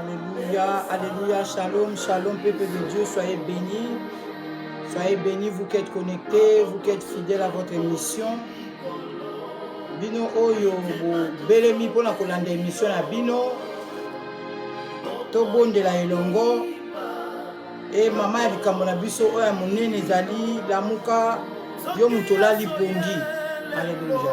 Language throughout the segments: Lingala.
Alléluia, Alléluia, Shalom, Shalom, peuple de Dieu, soyez bénis. Soyez bénis, vous qui êtes connectés, vous qui êtes fidèles à votre émission. Bino oyo belemi pona kolanda émission na bino. Tobondela elongo. Et maman ya likambo na biso oyo ya monene ezali lamuka yo moto olali pongi. Alléluia.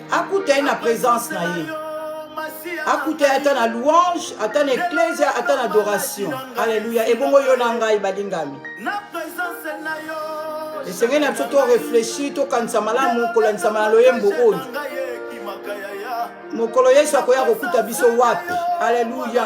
akuta ye na présence na ye akuta ye ata na louange ata na eklesia ata na adoration alleluya ebongo yo na ngai balingami esengeli na biso toreflechi tokanisa malamu kolandisama na loyembo oyo mokolo yesu akoya kokuta biso wapi alleluya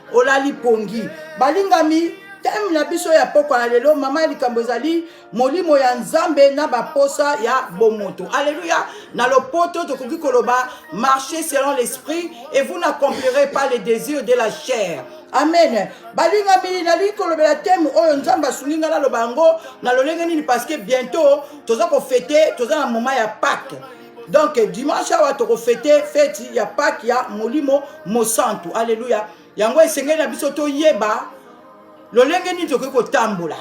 olali pongi balingami teme na biso ya pokwa ya lelo mama ya likambo ezali molimo ya nzambe na baposa ya bomoto alleluya na lopoto tokoki koloba marche selon l'esprit et vous n'accomplirez pas les désirs de la chair amen balingami nalingi kolobela teme oyo nzambe asungi ngai naloba yango na lolenge nini parce que bientôt toza kofete toza na moment ya pake donc dimanche awa tokofete feti ya pake ya molimo mosantu aleluya yango esengeli na biso toyeba lolenge nini tokoki kotambola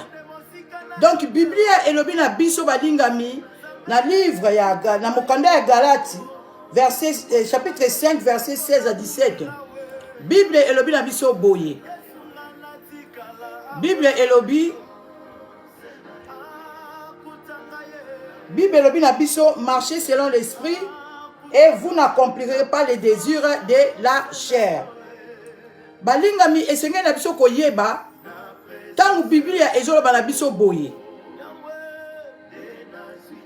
donc biblia elobi na biso balingami na livre ya na mokanda ya galati verset, eh, chapitre 5 verset 16 à 17 bible elobi na biso boye bible elobi Bible elobi na biso marcher selon l'esprit et vous n'accomplirez pas les désirs de la chair. Balingami esengeli na biso koyeba ntango Biblia ezoloba na biso boye.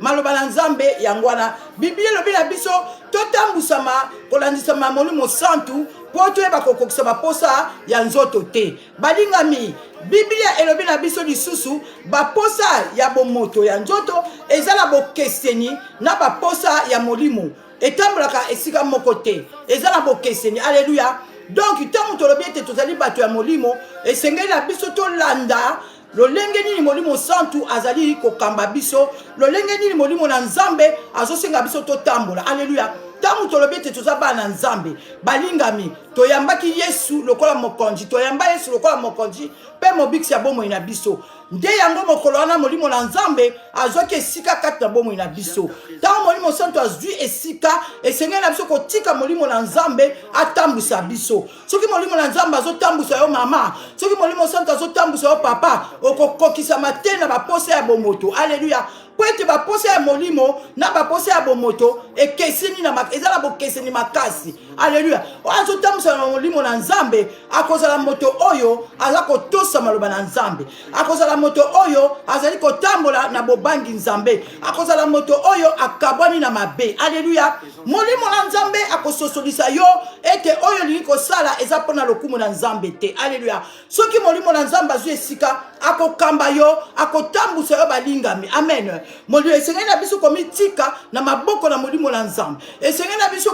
maloba na nzambe yango wana biblia elobi na biso totambwisama kolandisama molimo santu mpo toyeba kokokisa baposa ya nzoto te balingami biblia elobi na biso lisusu baposa ya bomoto ya nzoto eza na bokeseni na baposa ya molimo etambolaka esika moko te eza na bokeseni aleluya donk ntango tolobi ete tozali bato ya molimo esengeli na biso tolanda lolenge nini molimo santu azali kokamba biso lolenge nini molimo na nzambe azosenga biso totambola aleluya ntango tolobi ete toza bana na nzambe balingami toyambaki yesu lokola mokonzi toyamba yesu lokola mokonzi mpe mobikisi ya bomoi na biso nde yango mokolo wana molimo na nzambe azwaki esika kati na bomoi na biso ntango molimo santu azwi esika esengeli na biso kotika molimo na nzambe atambwisa biso soki molimo na nzambe azotambwisa yo mama soki molimo santu azotambwisa yo papa okokokisama te na baposa ya bomoto aleluya mpo ete baposa ya molimo na baposa ya bomoto ekeseni na eza na bokeseni makasi aleluya oyo azotambwisama na molimo na nzambe akozala moto oyo aza kotosa maloba na nzambe akozala moto oyo azali kotambola na bobangi nzambe akozala moto oyo akabwani na mabe aleluya molimo na nzambe akososolisa yo ete oyo olingi kosala eza mpo na lokumu na nzambe te aleluya soki molimo na nzambe azwi esika akokamba yo akotambusa yo balingami amen molimo esengeli na biso komitika na maboko na molimo na nzambe esengeli na biso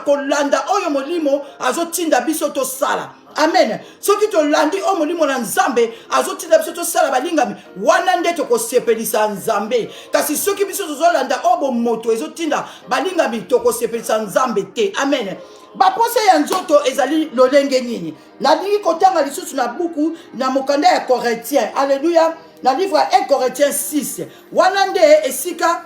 kolanda oyo molimo azotinda biso tosala amen soki tolandi oyo molimo na nzambe azotinda biso tosala balingami wana nde tokosepelisa nzambe kasi soki biso tozolanda oyo bomoto ezotinda balingami tokosepelisa nzambe te amen baposa ya nzoto ezali lolenge nini nalingi kotanga lisusu na buku na mokanda ya corintien alleluya na livre ya 1 corintien 6 wana nde esika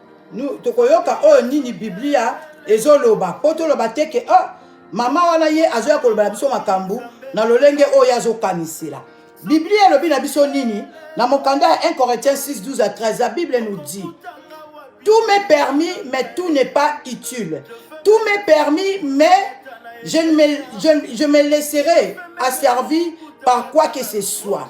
tokoyoka oyo nini biblia ezoloba mpo toloba te ke oh, mama wana ye azoya koloba na biso makambo na lolenge oyo ye azokanisela biblia elobi na biso nini na mokanda ya 1 corinthiens 6 12 à 13 la bible nous dit tout m'est permis mais tout n'est pas utile tout m'est permis mais je me, je, je me laisserai asservi par quoi que ce soit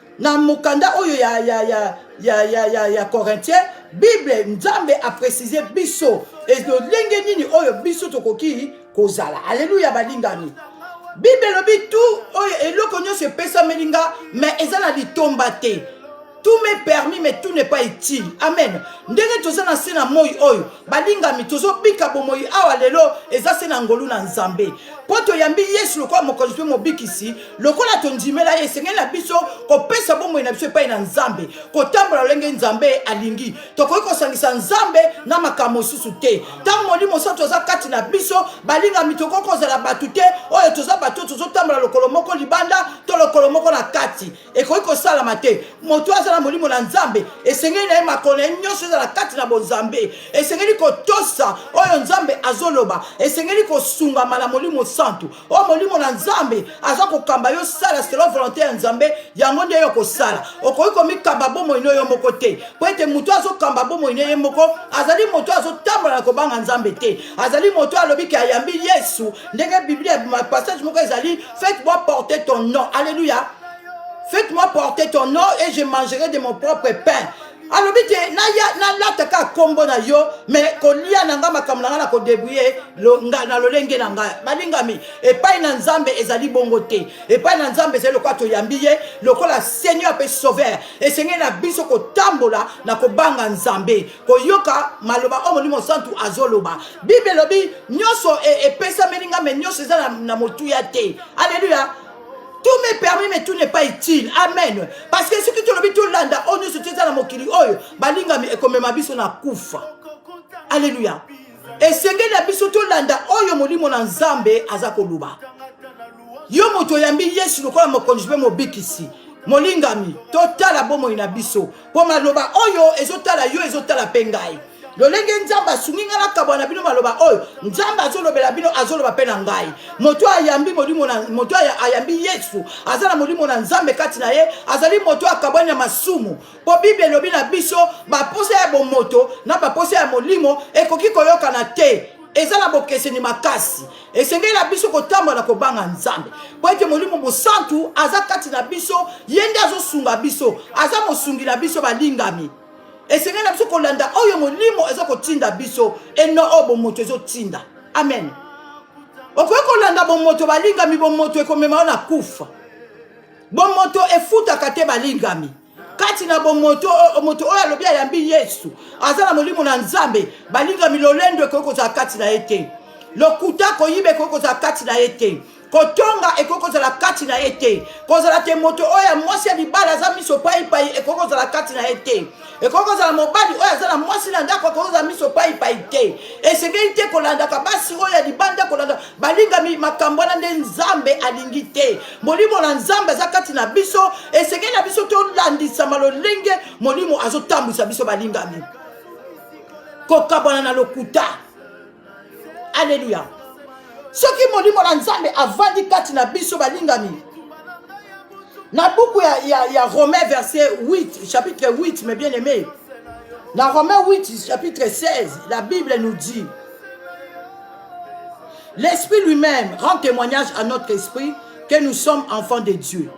na mokanda oyo ya, ya, ya, ya, ya, ya, ya corintien bible nzambe aprécise biso lolenge nini oyo biso tokoki kozala aleluya balingami bible elobi tu oyo eloko nyonso epesameli nga me eza na litomba te tout me permis mais tout n'est pas utile amen ndenge toza na se na moi oyo balingami tozobika bomoi awa lelo eza se na ngolu na nzambe mpo toyambi yesu lokola mokonzi mpe mobikisi lokola tondimela ye esengeli na biso kopesa bomoi na biso epai na nzambe kotambola lolenge nzambe alingi tokoki kosangisa nzambe na makambo mosusu te ntango molimo mosantu aza kati na biso balingami tokoki kozala bato te oyo toza bato tozotambola lokolo moko libanda to lokolo moko na kati ekoki kosalama te moto aza na molimo na nzambe esengeli na ye makolo na ye nyonso ezala kati na bonzambe esengeli kotosa oyo nzambe azoloba esengeli kosungama na molimo santu oyo molimo na nzambe aza kokamba yo sala selo volonté ya nzambe yango nde yo kosala okoki komikamba bomoi no yo moko te mpo ete moto azokamba bomoi ne ye moko azali moto azotambola na kobanga nzambe te azali moto alobi ke ayambi yesu ndenge biblia passage moko ezali faites moi porter ton nom alleluya faites moi porter ton nom et je mangerai de mon propre pain alobi te naya nalata kaka nkombo na yo me kolia na ngai makambo na ngai na kodebrouye na lolenge na ngai balingami epai na nzambe ezali bongo te epai na nzambe ezali lokola toyambi ye lokola seigneur mpe sauveur esengeli na biso kotambola na kobanga nzambe koyoka maloba oyo molimo santu azoloba bible elobi nyonso e, epesameli ngai me nyonso eza na motuya te aleluya tout me permis mais tout n'est pas utile amen parce que soki tolobi tolanda oyo nyonso toza na mokili oyo balingami ekomema biso na kufa alleluya esengeli ya biso tolanda oyo molimo na nzambe aza koloba yo moto oyambi yesu lokola mokonzi mpe mobikisi molingami totala bomoi na biso mpo maloba oyo ezotala yo ezotala mpe ngai lolenge nzambe asungi ngai nakabwa na bino maloba oyo nzambe azolobela bino azoloba mpe na ngai moto ayambi molimo na moto ayambi yesu aza na molimo na nzambe kati na ye azali moto akabwani na masumu mpo bible elobi na biso baposa ya bomoto na baposa ya molimo ekoki koyokana te eza na bokeseni makasi esengeli na biso kotambola na kobanga nzambe mpo ete molimo mosantu aza kati na biso ye nde azosunga biso aza mosungi na biso balingami esengeli na biso kolanda oyo molimo eza kotinda biso eno oyo bomoto ezotinda amen okoki kolanda bomoto balingami bomoto ekomema yo na kufa bomoto efutaka te balingami kati na bomoto moto oyo alobi ayambi yesu aza na molimo na nzambe balingami lolendo ekoki kozala kati na ye te lokuta koyiba ekoki kozala kati na ye te kotonga ekoki kozala kati na ye te kozala te moto oyo ya mwasi ya libala aza miso paipai ekoki kozala kati na ye te ekoki kozala mobali oyo aza na mwasi na ndako akoki kozala miso paipai te esengeli te kolandaka basi oyo ya libanda kolanda balingami makambo wana nde nzambe alingi te molimo na nzambe aza kati na biso esengeli na biso tolandisama lolenge molimo azotambwisa biso balingami kokabwana na lokuta aleluya soki molimo na nzambe avandi kati na biso balingami na buku ya, ya, ya romain verset 8 chapitre 8 mais bien aimé na romain 8 chapitre 16 la bible nous dit L'esprit lui-même rend témoignage à notre esprit que nous sommes enfants de Dieu.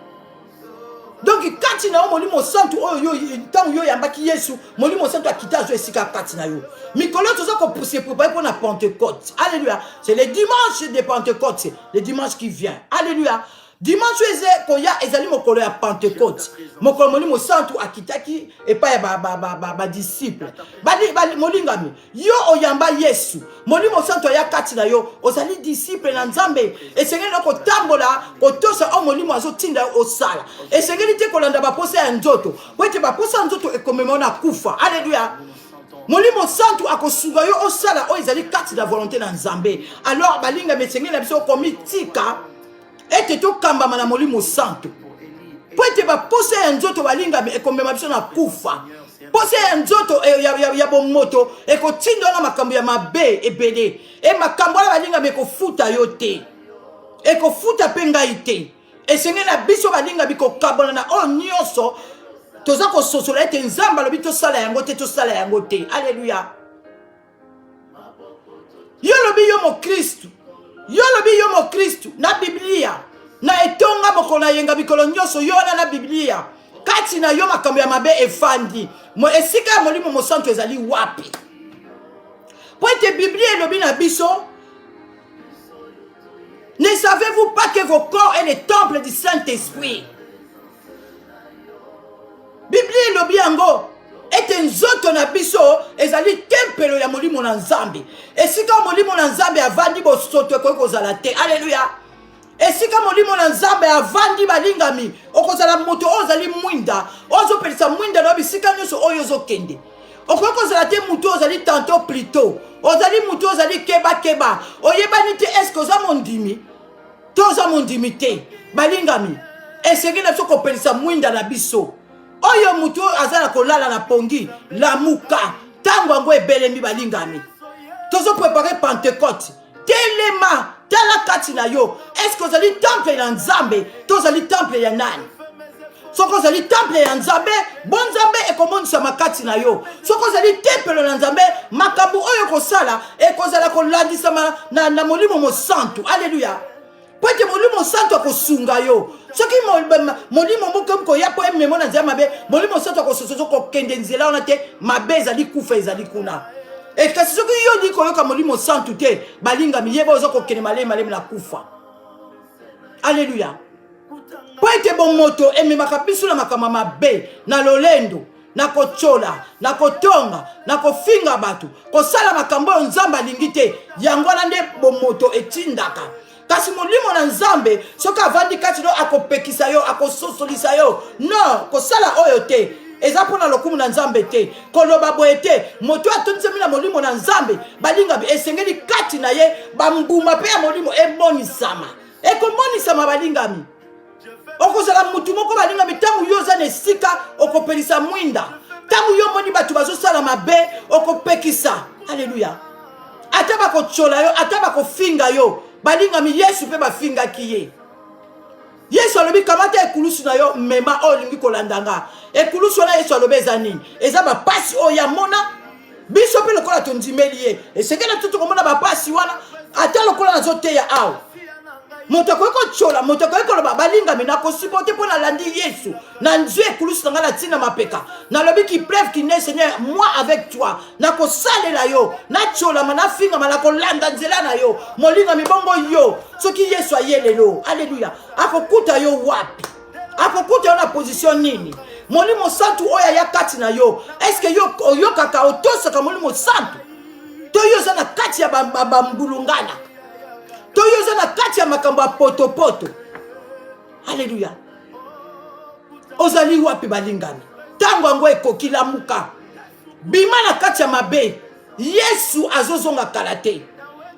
Donc kati na yo molimo santu oyo yo ntango yo oyambaki yesu molimo santu akita azo esika kati na yo mikolo toza kopuse prepare mpo na pentecote alléluia c'est le dimanche de pentecote le dimanche qui vient alléluia dimanche oyo eza koya ezali mokolo ya pentekote mokolo molimo santu akitaki epai ya badisiple molingami yo oyamba yesu molimo santu aya kati na yo ozali disiple na nzambe esengeli na kotambola kotosa oyo molimo azotinda yo osala esengeli te kolanda baposa ya nzoto po ete baposa ya nzoto ekomema na kufa aleluya molimo santu akosunga yo osala oyo ezali kati na volonté na nzambe alors balingami esengeli na biso komitika ete tokambama na molimo santu mpo ete baposa ya nzoto balingami ekomema biso na kufa posa ya nzoto eh, ya, ya, ya bomoto ekotinda wana makambo ya mabe ebele e eh, makambo wana balingami ekofuta yo te ekofuta mpe ngai te esengeli na biso balingami kokabana na oyo nyonso toza kososola ete nzambe alobi tosala yango te tosala yango te aleluya yo lobi yo mokristu yo lobi yo mokristu na biblia na etonga mokolo na yenga mikolo nyonso yo wana na biblia kati na yo makambo ya mabe efandi esika ya molimo mosantu ezali wapi mpo ete biblia elobi na biso ne savez-vous pas que vos corps est le temple du saint-esprit biblia elobi yango ete nzoto na biso ezali tempelo ya molimo na nzambe esika molimo na nzambe avandi bosoto ekoki kozala te aleluya esika molimo na nzambe avandi balingami okozala moto oyo ozali mwinda oyo ozopelisa mwinda na yo bisika nyonso oyo ozokende okoki kozala te motu oyo ozali tanto plito ozali motu oyo ozali kebakeba oyebani te eske oza mondimi toza mondimi te balingami esengeli na biso kopelisa mwinda na biso oyo motu oyo aza na kolala na pongi lamuka ntango yango ebelemi balingami tozoprepare pentecote telema tala kati na yo eske ozali temple na nzambe to ozali temple ya nani soki ozali temple ya nzambe bonzambe ekomonisama kati na yo soki ozali tempelo na nzambe makambo oyo ekosala ekozala kolandisama na, na molimo mosantu aleluya mpo ete molimo mosantu akosunga yo soki molimo moko koya mpo ememo na nzela mabe molimo mosantu akosososo kokende nzela wana te mabe ezali kufa ezali kuna e kasi soki yo olingi koyoka molimo santu te balingami yeba oza kokende malemi malemi na kufa aleluya mpo ete bomoto ememaka biso na makambo mabe na lolendo na kotyola na kotonga na kofinga bato kosala makambo oyo nzambe alingi te yango wana nde bomoto etindaka kasi molimo na nzambe soki avandi kati no akopekisa yo akososolisa yo no kosala oyo te eza mpo na lokumu na nzambe te koloba boye te moto oyo atondisami na molimo na nzambe balinga esengeli kati na ye bambuma mpe ya molimo emonisama ekomonisama balingami okozala motu moko balingami ntango yo oza na esika okopelisa mwinda ntango yo omoni bato bazosala mabe okopekisa aleluya ata bakotyola yo ata bakofinga yo balingami yesu mpe bafingaki ye yesu alobi kamata ekulusu na yo mema oyo olingi kolanda nga ekulusu wana yesu alobi eza nini eza bapasi oyo yamona biso mpe lokola tondimeli ye esengeli na biso tokomona bapasi wana ata lokola nazoteya awa moto akoki kotyola moto akoki koloba balingami nakosipo te mpo nalandi yesu na nzwi ekulusu na ngai na ntina mapeka nalobi kipreve kine seigneur moi avec toi nakosalela yo natyolama nafingama nakolanda nzela na yo molingami bongo yo soki yesu aye lelo aleluya akokuta yo wapi akokuta yo na position nini molimo santu oyo aya kati na yo eske yo oyokaka otosaka molimo santu to yo oza na kati ya bambulungana to yo oza na kati ya makambo ya potopoto aleluya ozali wapi balingami ntango yango ekoki lamuka bima na kati ya mabe yesu azozonga kala te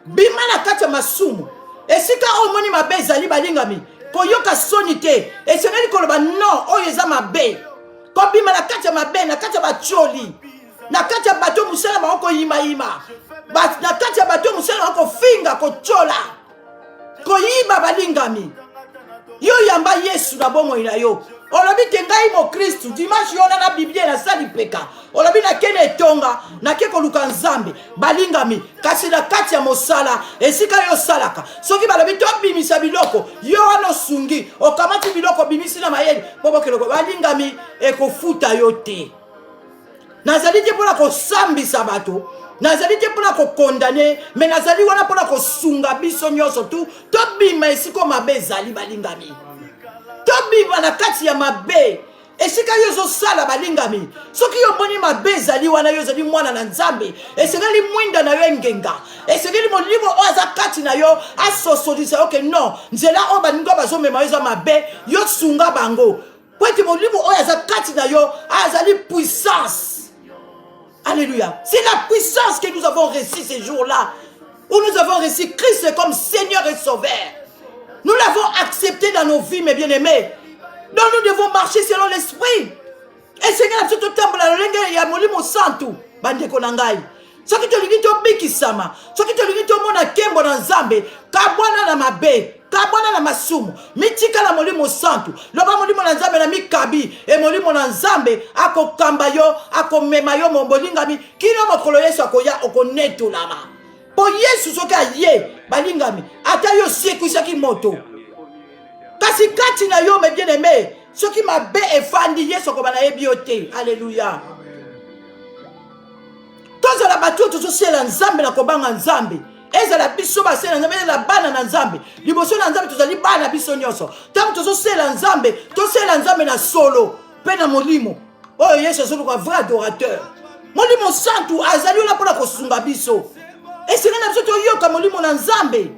bima na kati ya masumu esika oyo omoni mabe ezali balingami koyoka soni te esengeli koloba no oyo eza mabe kobima na kati ya mabe na kati ya batioli na kati ya bato mosala bango koyimayima na kati ya bato mosala bango kofinga kotyola koyiba balingami yo yamba yesu na bomoi na yo olobi te ngai mokristu dimanche yo wana na biblia naza lipeka olobi nake na etonga nake koluka nzambe balingami kasi na kati ya mosala esika yo osalaka soki balobi tobimisa biloko yo wana osungi okamati biloko obimisi na mayele mpo bokeloko balingami ekofuta yo te nazali te mpona kosambisa bato nazali te mpona kokondane me nazali wana mpona kosunga biso nyonso tu tobima esika mabe ezali balingami tobima na kati ya mabe esika yo ezosala balingami soki yo omoni mabe ezali wana yo ozali mwana na nzambe esengeli mwinda na yo engenga esengeli molimo oyo aza kati na yo asosolisa yo ke non nzela oyo baninga bazomema yo eza mabe yo sunga bango mpo ete molimo oyo aza kati na yo azali puissance alléluia c'est la puissance que nous avons reçu ces jours là où nous avons reçu christ comme seigneur et sauveur nous l'avons accepté dans nos vies mes bien aimés donc nous devons marcher selon l'esprit esengi na biso totambola lolenge ya molimo santu bandeko na ngai soki tolingi tobikisama soki tolingi tomona nkembo na nzambe kabwana na mabe kabwana na masumu mitika na molimo santu loba molimo na nzambe na mikabi e molimo na nzambe akokamba yo akomema yo molingami kino mokolo yesu akoya okonetolama mpo yesu soki aye balingami ata yo osekwisaki moto kasi kati na yo me bien aime soki mabe efandi yesu akoba nayebi yo te aleluya tozala bato oyo tozosalela nzambe na kobanga nzambe ezala biso basela nzambe ezala bana na nzambe liboso na nzambe tozali bana biso nyonso ntango tozosela nzambe tosela nzambe na solo mpe na molimo oyo yesu azoluka vrai adorateur molimo santu azali wana mpo na kosunga biso esengeli na biso toyoka molimo na nzambe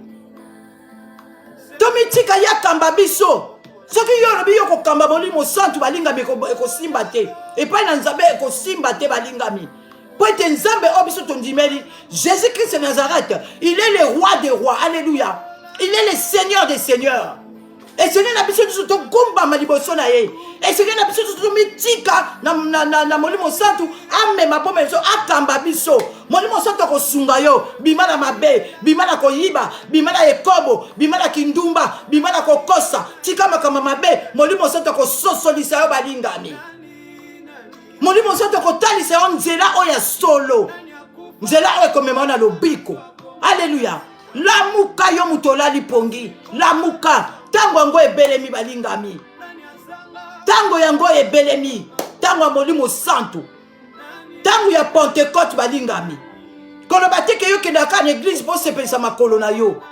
tomitika ye akamba biso soki yo olobi yo kokamba molimo santu balingami ekosimba te epai na nzambe ekosimba te balingami mpo ete nzambe oyo biso tondimeli jésus christ nazareth il est le roi des rois alleluya il est le seigneur des seigneurs esengeli na biso nyonso togumbama liboso na ye esengeli na biso nyonso tomitika na molimo santu amema mpo meso akamba biso molimo santu akosunga yo bima na mabe bima na koyiba bima na ekobo bima na kindumba bima na kokosa tika makambo mabe molimo santu akososolisa yo balingami molimo santu akotalisa yo nzela oyo ya solo nzela oyo ekomema na lobiko aleluya lamuka yo moto olali pongi lamuka ntango yango ebelemi balingami ntango yango ebelemi ntango ya molimo santu ntango ya pentecote balingami koloba te ke yo kendaka kaka na eglize mpo osepelisa makolo na yo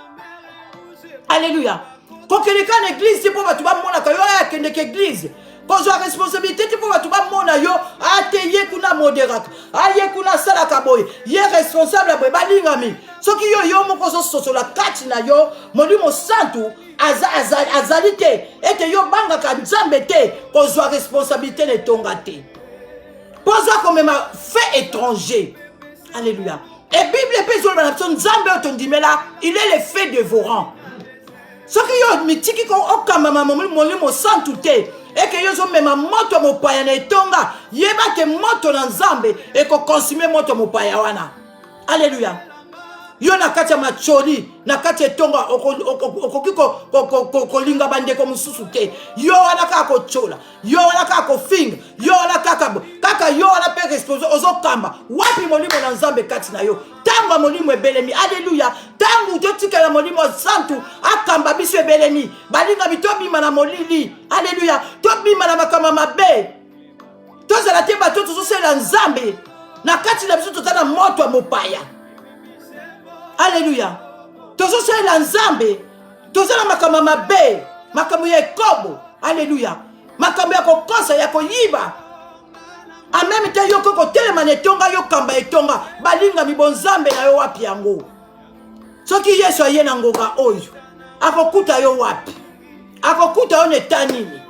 alleluya kokende kaka na eglize te mpo bato bamonaka yo aya akendeke eglize kozwa responsabilité te mpo bato bamona yo ate ah, ye kuna moderaka aye ah, kuna asalaka boye ye responsable ya boye balingami soki yo yo moko ozososola kati na yo molimo santu azali te ete yo obangaka nzambe te kozwa responsabilité na etonga te mpo aza komema fait étranger alleluya e bible mpe ezoloba na biso nzambe oyo tondimela il est le fait dévorant soki yo mitiki ko okambama molimo santu te eke yo ozomema moto mopaya na etonga yeba te moto na nzambe ekokonsime moto mopaya wana alleluya yo na kati ya macholi na kati ya etonga okoki kolinga bandeko mosusu te yo wana kaka kotyola yo wana kaka kofinga yo wana kaka kaka yo wana mpe responsable ozokamba wapi molimo na nzambe kati na yo ntango ya molimo ebelemi aleluya ntango totikela molimo santu akamba biso ebelemi balingami tobima na molili aleluya tobima na makambo mabe tozala te bato tozosalela nzambe na kati na biso toza na moto ya mopaya aleluya tozosalela nzambe toza na makambo ya mabe makambo ya ekobo aleluya makambo ya kokosa ya koyiba en meme temps yokoki kotelema na etonga yo kamba etonga balingami bonzambe na yo wapi yango soki yesu aye na ngonga oyo akokuta yo wapi akokuta yo na eta nini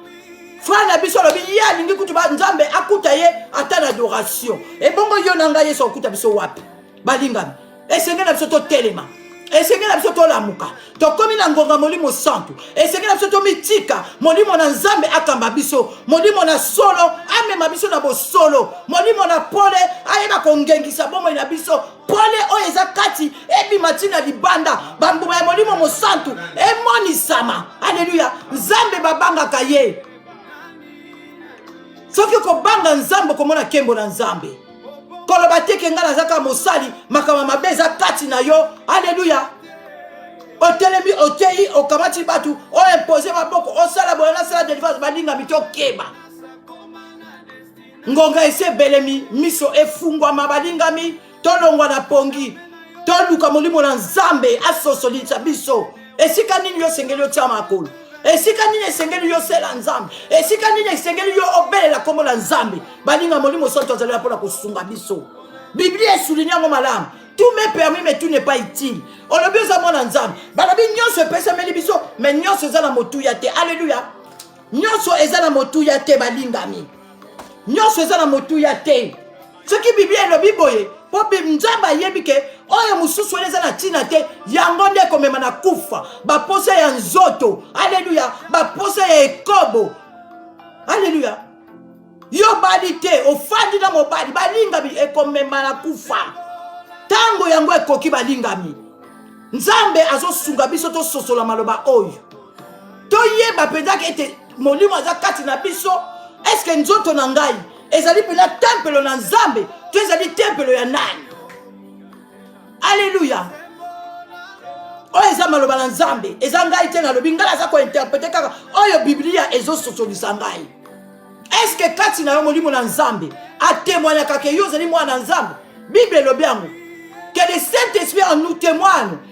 frere na biso alobi ye alingi kutu nzambe akuta ye ata na adoration ebongo yo na ngai yesu akokuta biso wapi balingami esengeli na biso totelema esengeli na biso tolamuka tokomi na ngonga molimo santu esengeli na biso tomitika molimo na nzambe akamba biso molimo na solo amema biso na bosolo molimo na pole ayeba kongengisa bomoi na biso pole oyo eza kati ebima ntina libanda bambuma ya molimo mosantu emonisama aleluya nzambe babangaka ye soki okobanga nzambe okomona nkembo na nzambe koloba te ke ngai nazaka mosali makambo mabe eza kati na yo aleluya otelemi oteyi okamati bato oimpose maboko osala boye nasala delivrance balingami tokeba ngonga esi ebelemi miso efungwama balingami tolongwa na pongi toluka molimo na nzambe asosolisa biso esika nini yo osengeli otya makolo esika nini esengeli yo osela nzambe esika nini esengeli yo obelela nkombo na nzambe baninga molimo santu azalela mpo na kosunga biso biblia esulinia yango malamu tout me permis mais tout n'est pas utile olobi oza mwana nzambe balobi nyonso epesameli biso mais nyonso eza na motuya te alleluya nyonso eza na motuya te balingami nyonso eza na motuya te soki biblia elobi boye mpo nzambe ayebi ke oyo mosusu wana eza na ntina te yango nde ekomema na kufa baposa ya nzoto aleluya baposa ya ekobo aleluya yo obali te ofandi na mobali balingami ekomema na kufa ntango yango ekoki balingami nzambe azosunga biso tososola maloba oyo toyeba mpenzaka ete molimo aza kati na biso eske nzoto na ngai ezali mpena tempelo na nzambe to ezali tempelo ya nani aleluya oyo eza maloba na nzambe eza ngai te nalobi ngai naza kointerprete kaka oyo biblia ezososolisa ngai eske kati na yo molimo na nzambe atemwanyaka ke yo ozali mwana na nzambe bible elobi yango que le saint esprit en nous témoigne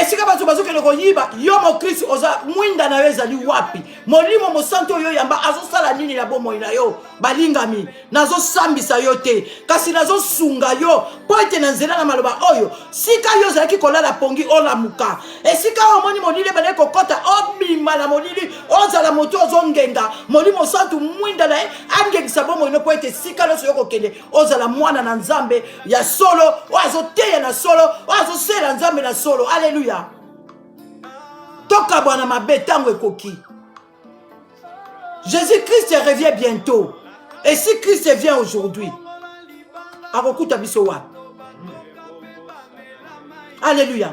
esika bato bazokende koyiba yo mokristu oza mwinda na yo ezali wapi molimo mosantu oyo yamba azosala nini na bomoi na yo balingami nazosambisa yo te kasi nazosunga yo mpo ete na nzela na maloba oyo sika yo ozalaki kolala pongi olamuka esika oyo omoni molili ebandaki kokɔta obima na molili ozala moto ozongenga molimo santu mwinda na ye angengisa bomoi no mpo ete sika nyonso yo kokende ozala mwana na nzambe ya solo oyo azoteya na solo oyo azosela nzambe na solo aleluya tokabwana mabe ntango ekoki jésus christ revient bientôt et si christ vient aujourd'hui akokuta biso wapi aleluya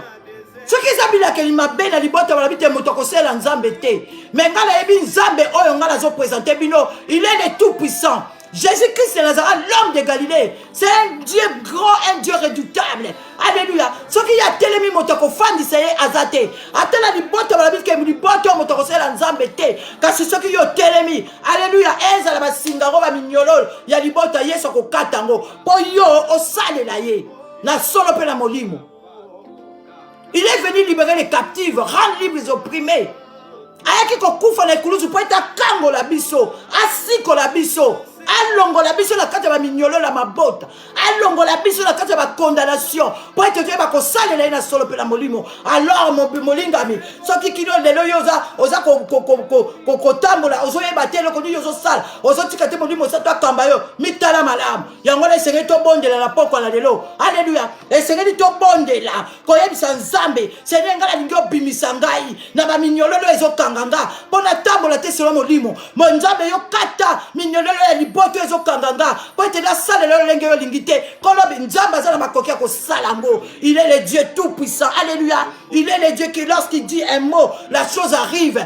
soki eza bilakeli mabe na libota balobi te moto akosela nzambe te me ngai nayebi nzambe oyo ngai nazopresente bino il est le tout puissant Jésus-Christ de Nazareth, l'homme de Galilée, c'est un Dieu grand, un Dieu redoutable. Alléluia. Ce qui a telemi motoko fandi seye azate. Atela ni boto la bifke ni boto motoko seye la nzambe te. Kasi ce qui yo telemi. Alléluia. Enza la basinga roba mignolol. Ya ni boto yeso ko katango. Po yo o sale la ye. Na solo pe na molimo. Il est venu libérer les captifs, rendre libres les opprimés. ayaki kokufa na ekulusu mpo ete akangola biso asikola biso alongola biso na kati ya baminyolo na mabota alongola biso na kati ya bakondanation mpo ete toyeba kosalela ye na solo mpe na molimo alors molingami soki kino lelo yo oza kotambola ozoyeba te eloko nini ozosala ozotika te molimo osato akamba yo mitala malamu yango wana esengeli tobondela na pokwa na lelo aleluya esengeli tobondela koyebisa nzambe seigneur ngai nalingi obimisa ngai na baminyololo ezokanga nga mpo natambola te selo molimo mo nzambe yo kata minyololo ya liboto ezokanga nga mpo ete nasalela yo lolenge yo olingi te kolobi nzambe aza na makoki ya kosala yango il est le dieu tout puissant alleluya il est le dieu qui lorsqu'il dit un mot la chose arrive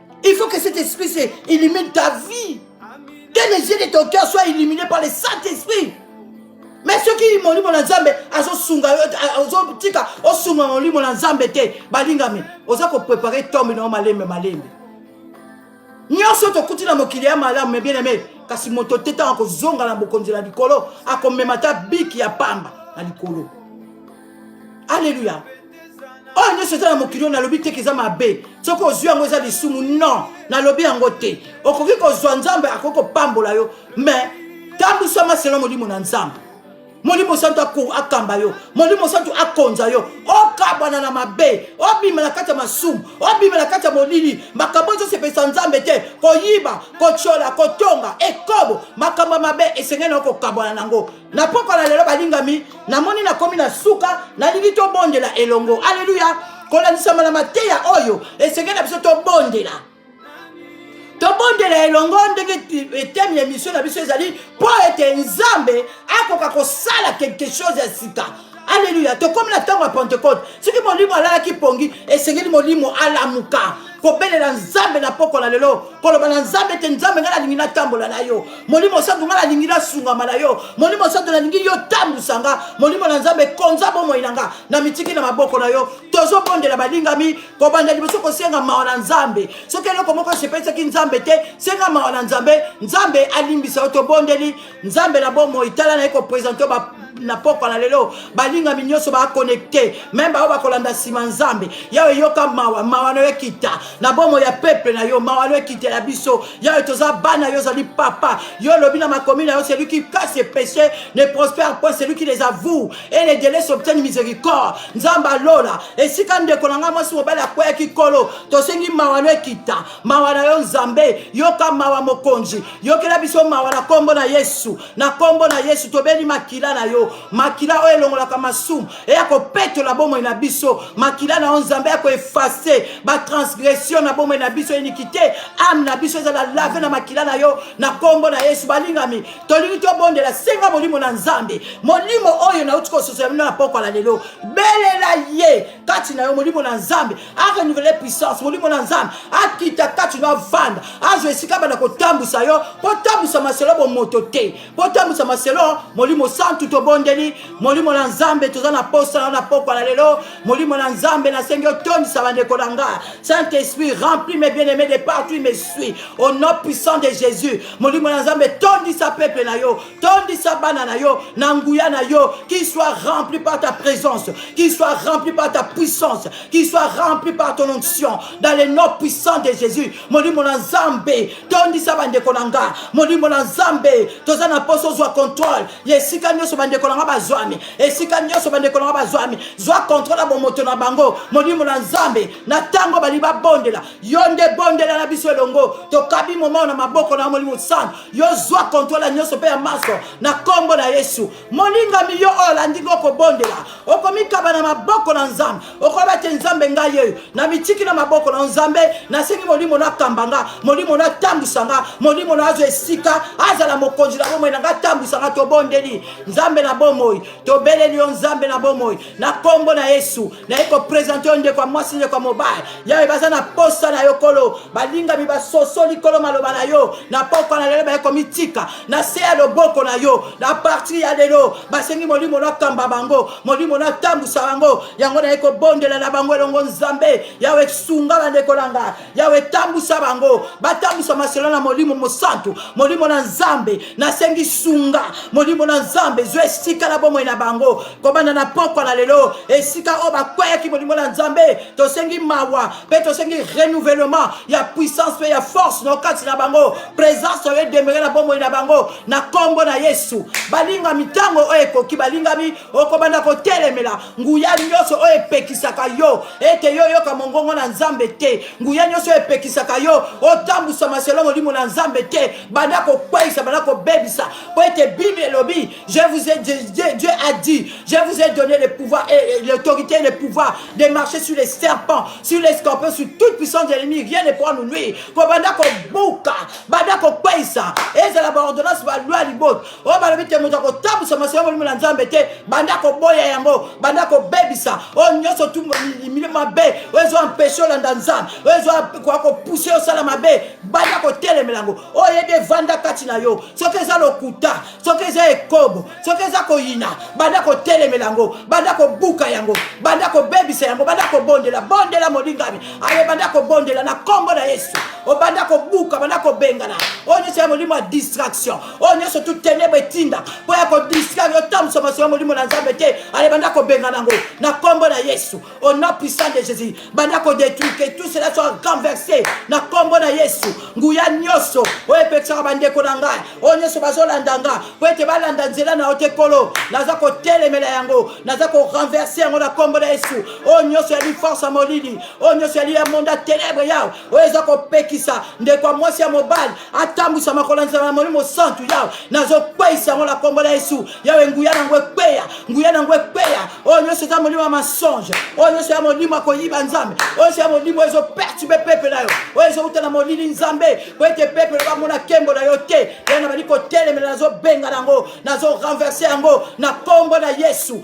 Il faut que cet esprit se illumine ta vie. Que les yeux de ton cœur soient illuminés par le Saint-Esprit. Mais ceux qui m'ont dit mon ensemble, ils ont sunga, ils ont dit qu'ils sunga mon lit mon ensemble était. Balingami, ils ont préparé tombe non malembe malembe. nyonso tokuti na mokili ya malamu me bien aime kasi moto te ntango akozonga na bokonzi na likolo akomema ata biki ya pamba na likolo alleluya oyo nyonso eza na mokili oyo nalobi teke eza mabe soki ozwi yango eza lisumu non nalobi yango te okoki kozwa nzambe akoki kopambola yo mais tambwisama selo molimo na nzambe molimo santu akamba yo molimo santu akonza yo okabwana na mabe obima na kati ya masumu obima na kati ya molili makambo ezosepelisa nzambe te koyiba kotyola kotonga ekobo makambo ya mabe esengeli na yo kokabwana na yango na pokwa na lelo balingami namoni nakomi na suka nalingi tobondela elongo aleluya kolandisama na mateya oyo esengeli na biso tobondela tobondela elongo ndenge etemi ya misio na biso ezali mpo ete nzambe akoka kosala quelque chose ya sika aleluya tokomi na ntango ya pentekote soki molimo alalaki pongi esengeli molimo alamuka kobelela nzambe na poko na lelo koloba na nzambe ete nzambe ngai nalingi natambola na yo molimo santu ngai nalingi nasungama na yo molimo santu nalingi yo tambusa nga molimo na nzambe konza bomoi na nga na mitiki na maboko na yo tozobondela balingami kobanda liboso kosenga mawa na nzambe soki eloko moko esepelisaki nzambe te senga mawa na nzambe nzambe alimbisa yo tobondeli nzambe na bomoi tala naye kopresente ba na pokwa na lelo balingami nyonso baconnecte meme baoyo bakolanda nsima nzambe yawe eyoka mawa mawa nayo ekita na bomo ya peple na yo mawa nayo ekita ya biso yawe toza bana yo ozali papa yo olobi na makomi na yo celui qui casse ses péchés ne prospère point celui qui les avoue et les délais s'obtiennent miséricorde nzambe alola esika ndeko na ngai mwasi mobali akweyaki kolo tosengi mawa nayo ekita mawa na yo nzambe yoka mawa mokonzi yokela biso mawa na nkombo na yesu na nkombo na yesu tobeli makila na yo makila oyo elongolaka masumu eya kopetola bomoi na biso makila na yo nzambe ya koefase batransgression na bomoi na biso inikite ame na biso ezala lave na makila na yo na nkombo na yesu balingami tolingi tobondela senga molimo na nzambe molimo oyo nauti kososola bino na pokwa na lelo belela ye kati na yo molimo na nzambe a renouvele puissance molimo na nzambe akita kati no avanda azwa esika banda kotambwisa yo mpo tambwisa maselo bomoto te mpo tambwisa maselo molimo santu tobondeli molimo na nzambe toza na posa na na pokwa na lelo molimo na nzambe nasengi otondisa bandeko na nga saint esprit rempli mes bien aimé de partout il me suis au nom puissant de jésus molimo na nzambe tondisa peuple na yo tondisa bana na yo na nguya na yo qu'il soit rempli par ta présence qu'il soit rempli par ta puissance qu'il soit rempli par ton onction dans le nom puissant de jésus molimo na nzambe tondisa bandeko na nga molimo na nzambe toza na mposa ozwa contrôle ya esika nyonso bandeko na nga bazwami esika nyonso bandeko na nga bazwami zwa contrôle ya bomoto na bango molimo na nzambe na ntango bali babondela yo nde bondela na biso elongo tokabi momao na maboko na molimo santu yo zwa kontrol ya nyonso mpe ya manso na nkombo na yesu molingami yo oyo olandi ngo kobondela okomikaba na maboko na nzambe okoyeba te nzambe ngai yeyo na mitiki na maboko na nzambe nasengi molimo nakamba nga molimo natambwisa nga molimo na azwa esika azala mokonzi na bomoi na ngai atambwisa nga tobondeli nzambe na bomoi tobeleli yo nzambe na bomoi na kombo na yesu naye kopresente yo ndeko ya mwasi ndeko ya mobali yawe baza na posa na yo kolo balingami basosoli kolo maloba na yo na pokwa na lelo baye komitika na se ya loboko na yo na partir ya lelo basengi molimo nakamba bango molimo natambusa bango yango naye kobondela na bango elongo nzambe yawe sunga bandeko na nga yawe tambusa bango batambusa masolo na molimo mosantu molimo na nzambe nasengi sunga molimo na nzambe zwa esika na bomoi na bango kobanda na pokwa na lelo esika oyo bakweyaki molimo na nzambe tosengi mawa mpe tosengi renouvellement ya puissance mpe ya force na okati na bango présence oyo edemere na bomoi na bango na nkombo na yesu balingami ntango oyo ekoki balingami okobanda kotelemela nguya nyonso oyo epekisaka yo ete yo oyoka mongongo na nzambe te nguya nyonso oyo epekisaka yo otambwisama selo molimo na nzambe te banda kokweisa banda kobebisa mpo ete bible elobi je vous ai, dieu a dit je vous ai donné le pouvoir et l'autorité et le pouvoir de marcher sur les serpents sur les scorpions sur toute puissance de l'ennemi rien ne pourra nous nuire kobanda kobuka banda kokweisa ezala baordonnance balwa liboto oyo balobi te moto akotambusa masolo ya molimo na nzambe te banda koboya yango banda kobebisa oyo nyonso tu milimo mabe oyo ezo ampeshe olanda nzambe oyo ezo kopuse osala mabe banda kotelemela yango oyo yebi evanda kati na yo soki eza lokuta soki eza ekobo soki eza koyina banda kotelemela yango banda kobuka yango banda kobebisa yango banda kobondela bondela molingami aye banda kobondela na nkombo na yesu obanda kobuka banda kobengana oyo nyonso ya molimo ya distraction oyo nyonso tu tenebra etinda mpo ya kodistraire yo tambusa masolo ya molimo na nzambe te ale banda kobengana yango na nkombo na yesu au nom puissant de jésus banda kodétruire que tout cela soit renversé na nkombo na yesu nguya nyonso oyo epekisaka bandeko na ngai oyo nyonso bazolanda ngai mpo ete balanda nzela na yo te kolo naza kotelemela yango naza korenverse yango na nkombo na yesu oyo nyonso yali force ya molili oyo nyonso yali ya monda tenebre yao oyo eza kopekisa ndeko ya mwasi ya mobali atambwisa makolo ya nzambe ya molimo santu yawe nazokweisa yango na nkombo na yesu yawe nguya na yango ekweya nguya na yango ekweya oyo nyonso eza molimo ya mensonge oyo nyonso ya molimo ya koyiba nzambe oyo nyonso ya molimo oyo ezopertibe pepe na yo oyo ezowuta na molili nzambe po ete pepe bamona nkembo na yo te yango nabandi kotelemela nazobenga na yango nazorenverse yango na nkombo na yesu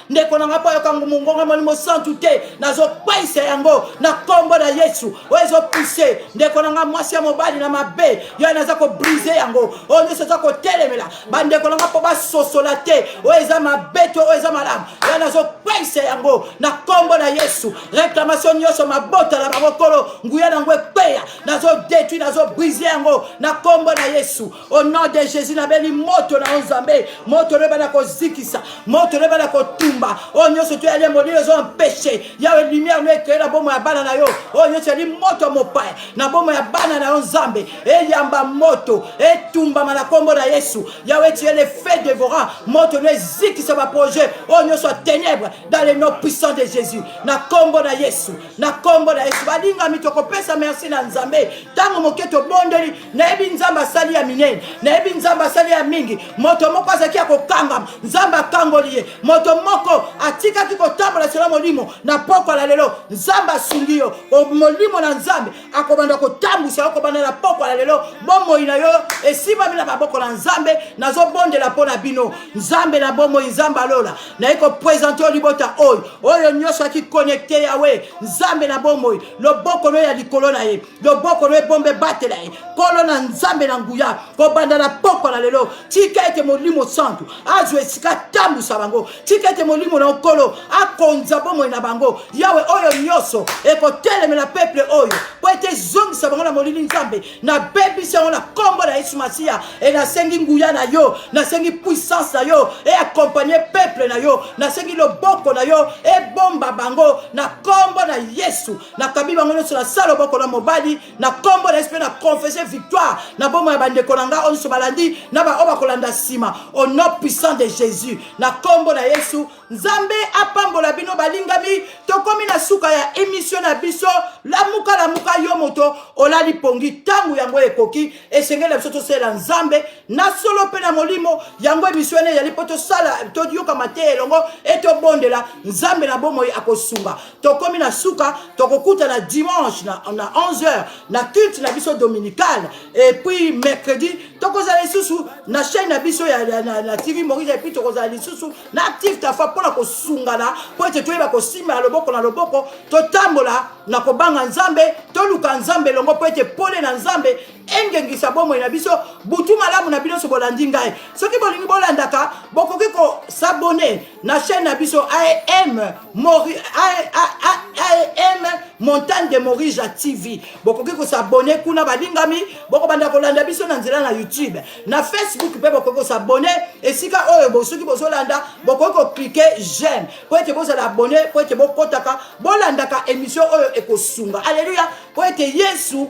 ndeko na ngai mpo ayoka mongongo ya molimo santu te nazopaisa yango na nkombo na yesu oyo ezopise ndeko na ngai mwasi ya mobali na mabe yo naza kobrise yango oyo nyonso eza kotelemela bandeko na ngai mpo basosola te oyo eza mabe to oyo eza malamu yo nazopaisa yango na nkombo na yesu reklamation nyonso mabota na bango kolo nguya na yango ekweya nazodetui nazobrise yango na nkombo na yesu Au nom de Jésus, na beli moto na nzambe, moto le bana kozikisa, moto le bana kotumba. Oh nyoso tu allé modi les ont péché. Ya une lumière mais que la bomo ya bana na yo. Oh nyoso li moto mopaya. Na bomo ya bana na nzambe. E yamba moto, e tumba mana kombo na Yesu. Yahweh tu es le feu dévorant, moto le zikisa ba projet. Oh nyoso ténèbres dans le nom puissant de Jésus. Na kombo na Yesu, na kombo na Yesu. Balinga mitoko pesa merci na nzambe. Tango moketo bondeli nayebi nzambe asali ya minene nayebi nzambe asali ya mingi moto moko azalaki ya kokangama nzambe akangoli ye moto moko atikaki kotambola selo molimo na pokwa la lelo nzambe asungi yo molimo na nzambe akobanda kotambwisa yo kobanda na pokwa la lelo bomoi na yo esimbami na maboko na nzambe nazobondela mpo na bino nzambe na bomoi nzambe alola naye kopresente yo libota oyo oyo nyonso akikonekte yawe nzambe na bomoi loboko no ya likolo na ye loboko no ebomba ebatela ye nkolo na nzambe na nguya kobanda na pokwa na lelo tika ete molimo santu azwa esika atambusa bango tika ete molimo na nkolo akonza bomoi na bango yawe oyo nyonso ekotelemela peple oyo mpo ete ezongisa bango na molili nzambe nabebisi yango na nkombo na yesu masiya e nasengi nguya na yo nasengi puissance na yo e akompagne peple na yo nasengi loboko na yo ebomba bango na nkombo na yesu nakabi bango nyonso na sala loboko na mobali na nkombo na yesu mpe na confesse victoire na bomoi ya bandeko na ngai oyo nyonso balandi na baoyo bakolanda nsima au nom puissant de jésus na nkombo na yesu nzambe apambola bino balingami tokomi na suka ya emission na biso lamuka lamuka yo moto olali pongi ntango yango ekoki esengeli na biso tosalela nzambe na solo mpe na molimo yango emission ene ezali mpo tosala toyoka mateya elongo etobondela nzambe na bomoi akosunga tokomi na suka tokokutana dimanche na, na 11h na culte na biso dominical epuis mercredi tokozala lisusu na chaîne na biso ya, ya, na, na tv morise epuis tokozala lisusu na active tafa mpo na kosungana mpo ete toyeba kosimba na loboko na loboko totambola na kobanga nzambe toluka nzambe elongo mpo ete pole na nzambe engengisa bomoi na biso butu malamu na bino so bolandi ngai soki bolingi bolandaka bokoki kosabone na chaîne na biso am mori am montagne de morija tv bokoki kosabone kuna balingami bokobanda kolanda biso na nzela na youtube na facebook mpe bokoki kosabone esika oyo bosoki bozolanda bokoki koklike j'aime mpo ete bozala abone mpo ete bokotaka bolandaka émission oyo ekosunga alleluya mpo ete yesu